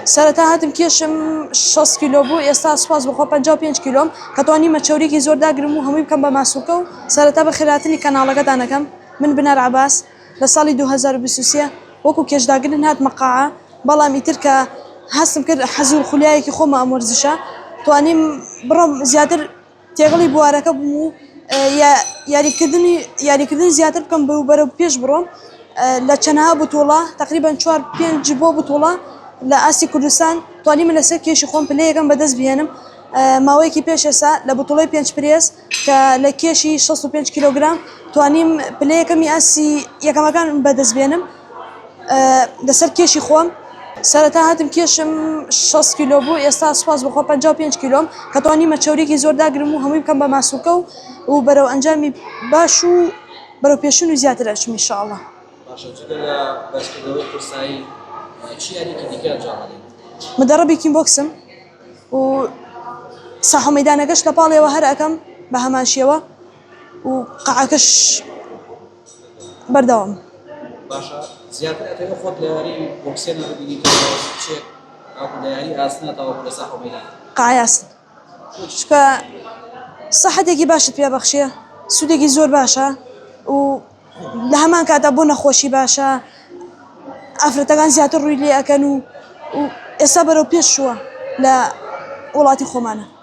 سەرەتا هاتم کێشم شەست کیلۆ بوو ئێستا سوپاس بەخوا پەنجا و پێنج کیلۆم کە توانیمە چەوریەکی زۆر داگرم و هەمووی بکەم بە ماسولکە و سەرەتا بەخێرهاتنی کەناڵەکەتان ئەکەم من بنار عەباس لە ساڵی دوو هەزار و بیست و سێ وەکو کێشداگرن هاتمە قاعە بەڵام ئیتر کە هەستم کرد حەزی و خولیایەکی خۆمە ئەم وەرزشە توانیم بڕۆم زیاتر تێکەڵی بوارەکە بم و یاریکردن زیاتر بکەم و بەرەو پێش بڕۆم لە چەنەها بتوڵە تقریبا چوار پێنج بۆ بتوڵە لە ئاستی کوردستان توانیمە لەسەر کێشی خۆم پلەیەکەم بەدەست بهێنم ماوەیەکی پێش ئێسا لە بتوڵەی پێنج پرێس کە لە کێشی شەست و پێنج کیلۆگرام توانیم پلەیەکەمی ئاستی یەکەمەکان بەدەست بێنم لەسەر کێشی خۆم سەرەتا هاتم کێشم شەست کیلۆ بوو ئێستا سوپاس بەخوا پەنجا و پێنج کیلۆم کە توانیمە چەوریی زۆر داگرم و هەمووی بکەم بە ماسولکە و و بەرەو ئەنجامی باش و بەرەو پێشین و زیاتر ئەچم ان شاءاللە. مدربی کین بۆکسم و ساحە و مەیدانەکەش لە پاڵیەوە هەر ئەکەم بە هەمان شێوە و قەعەکەش. بەردەوام. باشە زیاتر ئەتەوێ خۆت لە یاری بۆکسێنە ببینی تۆ لە کچێک تاوەکو لە یاری ئاسنە تاوەکو لە ساحەو مەیدان. قای ئاسن چونکە سەحەتێکی باشت پێ بەخشێ سودێکی زۆر باشە و لە هەمان کاتا بۆ نەخۆشی باشە ئافرەتەکان زیاتر ڕوی لێ ئەکەن و ئێستا بەرەو پێش چووە لە وڵاتی خۆمانە.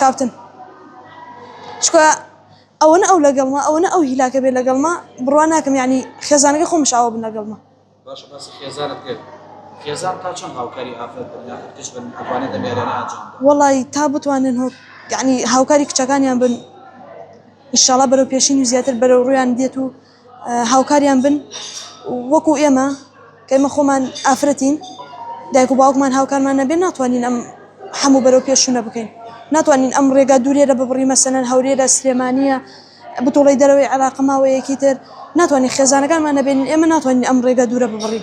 کاپتن چکە ئەوەنە ئەو لەگەڵمە ئەوەنە ئەو هیلاکە بێ لەگەڵمە بڕوا ناکەم ینی خێزانەکە خۆمش ئاوە بن لەگەڵمە باشە باسی خێزانت کرد خێزان تا چەند هاوکاری ئافرەت بن یاخود کچ بن ئەتوانێت ئەم یاریانە ئەنجام بدات؟ وەڵی تا بتوانن هۆ یعنی هاوکاری کچەکانیان بن ئیشاڵا بەرەو پێشین و زیاتر بەرەو ڕوویان دێت و هاوکاریان بن وەکو ئێمە کەمە خۆمان ئافرەتین دایک و باوکمان هاوکارمان نەبێ ناتوانین ئەم هەموو بەرەو پێشونە بکەین ناتوانین ئەم ڕێگا دوورێرە ببڕی مەسەن هەورێرە سلێمانە بتوڵی دەرەوەی عراقماوەیەکی تر ناتوانین خێزانەکانمان نەبێنین ئێمە ناتوانین ئەم ڕێگە دوورە ببڕی.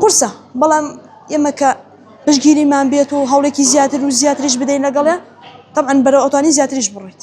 قورسە، بەڵام ئێمە کە پشتگیریمان بێت و هەوڵێکی زیاتر و زیاتریش بدەین لەگەڵێ تەبعەن بەرەو ئەتوانی زیاتریش بڕۆیت.